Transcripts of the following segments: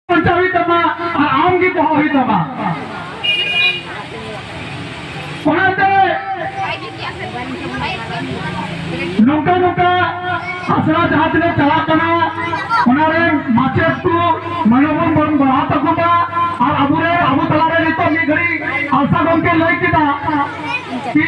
ᱵᱟᱧᱪᱟᱣ ᱦᱩᱭᱩᱜ ᱛᱟᱢᱟ ᱟᱨ ᱟᱢ ᱜᱮ ᱫᱚᱦᱚ ᱦᱩᱭᱩᱜ ᱛᱟᱢᱟ ᱚᱱᱟᱛᱮ ᱱᱚᱝᱠᱟ ᱱᱚᱝᱠᱟ ᱟᱥᱲᱟ ᱡᱟᱦᱟᱸ ᱛᱤᱱᱟᱹᱜ ᱪᱟᱞᱟᱜ ᱠᱟᱱᱟ ᱚᱱᱟ ᱨᱮᱱ ᱢᱟᱪᱮᱫ ᱠᱚ ᱢᱟᱱᱚᱵᱚᱱ ᱵᱚᱱ ᱵᱟᱲᱦᱟᱣ ᱛᱟᱠᱚ ᱢᱟ ᱟᱨ ᱟᱵᱚ ᱨᱮ ᱟᱵᱚ ᱛᱟᱞᱟᱨᱮ ᱱᱤᱛᱚᱜ ᱢᱤᱫ ᱜᱷᱟᱹᱲᱤᱡ ᱟᱞᱥᱟ ᱜᱚᱢᱠᱮ ᱞᱟᱹᱭ ᱠᱮᱫᱟ ᱠᱤ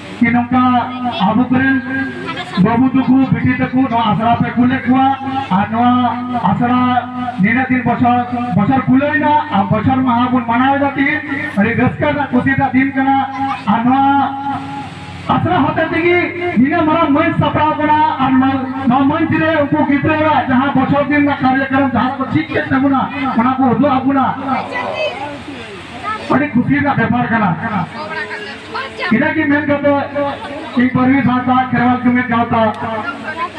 ᱡᱮ ᱱᱚᱝᱠᱟ ᱟᱵᱚ ᱠᱚᱨᱮᱱ ᱵᱟᱹᱵᱩ ᱛᱟᱠᱚ ᱵᱤᱴᱤ ᱛᱟᱠᱚ ᱱᱚᱣᱟ ᱟᱥᱲᱟ ᱯᱮ ᱠᱩᱞᱮᱫ ᱠᱚᱣᱟ ᱟᱨ ᱱᱚᱣᱟ ᱟᱥᱲᱟ ᱱᱤᱱᱟᱹᱜ ᱫᱤᱱ ᱵᱚᱪᱷᱚᱨ ᱵᱚᱪᱷᱚᱨ ᱠᱩᱞᱟᱹᱭᱱᱟ ᱟᱨ ᱵᱚᱪᱷᱚᱨ ᱢᱟᱦᱟ ᱵᱚᱱ ᱢᱟᱱᱟᱣᱮᱫᱟ ᱛᱤᱦᱤᱧ ᱟᱹᱰᱤ ᱨᱟᱹᱥᱠᱟᱹ ᱨᱮᱱᱟᱜ ᱠᱩᱥᱤ ᱨᱮᱱᱟᱜ ᱫᱤᱱ ᱠᱟᱱᱟ ᱟᱨ ᱱᱚᱣᱟ ᱟᱥᱲᱟ ᱦᱚᱛᱮ ᱛᱮᱜᱮ ᱱᱤᱱᱟᱹᱜ ᱢᱟᱨᱟᱝ ᱢᱟᱹᱱ ᱥᱟᱯᱲᱟᱣ ᱠᱟᱱᱟ ᱟᱨ ᱱᱚᱣᱟ ᱢᱟᱹᱱ ᱨᱮ ᱩᱱᱠᱩ ᱜᱤᱫᱽᱨᱟᱹᱣᱟᱜ ᱡᱟᱦᱟᱸ ᱵᱚᱪᱷᱚᱨ ᱫᱤᱱ ᱨᱮᱱᱟᱜ ᱠᱟᱨᱭᱚᱠᱨᱚᱢ ᱡᱟᱦᱟᱸ ᱠᱚ ᱪᱮᱫ ᱠᱮᱫ ᱛᱟᱵᱚᱱᱟ ᱚᱱᱟ ᱠᱚ ᱩᱫᱩᱜ ᱟᱵᱚᱱᱟ ᱟᱹᱰᱤ ᱠᱩᱥᱤ ᱨᱮᱱᱟᱜ ᱵᱮᱯᱟᱨ ᱠᱟᱱᱟ ᱤᱱᱟᱹ ᱜᱮ ᱢᱮᱱ ᱠᱟᱛᱮ ᱤᱧ ᱯᱟᱹᱨᱣᱤ ᱥᱟᱶᱛᱟ ᱠᱷᱮᱨᱣᱟᱞ ᱡᱩᱢᱤᱫ ᱜᱟᱶᱛᱟ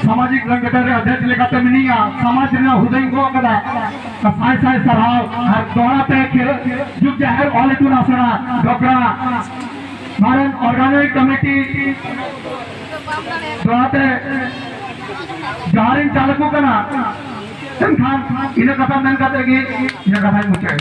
ᱥᱟᱢᱟᱡᱤᱠ ᱥᱚᱝᱜᱚᱴᱷᱚᱱ ᱨᱮ ᱚᱫᱷᱮᱠ ᱞᱮᱠᱟᱛᱮ ᱢᱤᱱᱟᱹᱧᱟ ᱥᱚᱢᱟᱡᱽ ᱨᱮᱱᱟᱜ ᱦᱩᱫᱟᱹᱧ ᱜᱚᱜ ᱠᱟᱫᱟ ᱥᱟᱭ ᱥᱟᱭ ᱥᱟᱨᱦᱟᱣ ᱟᱨ ᱫᱚᱦᱲᱟ ᱛᱮ ᱡᱩᱜᱽ ᱡᱟᱦᱮᱨ ᱚᱞ ᱤᱛᱩᱱ ᱟᱥᱲᱟ ᱰᱚᱜᱽᱨᱟ ᱢᱟᱨᱮᱱ ᱚᱨᱜᱟᱱᱤᱠ ᱠᱚᱢᱤᱴᱤ ᱫᱚᱦᱲᱟ ᱛᱮ ᱡᱚᱦᱟᱨᱤᱧ ᱪᱟᱞ ᱟᱠᱚ ᱠᱟᱱᱟ ᱢᱮᱱᱠᱷᱟᱱ ᱤᱱᱟᱹ ᱠᱟᱛᱷᱟ ᱢᱮᱱ ᱠᱟᱛᱮ ᱜᱮ ᱤᱱᱟᱹ ᱠᱟᱛᱷᱟᱧ ᱢᱩᱪᱟᱹᱫ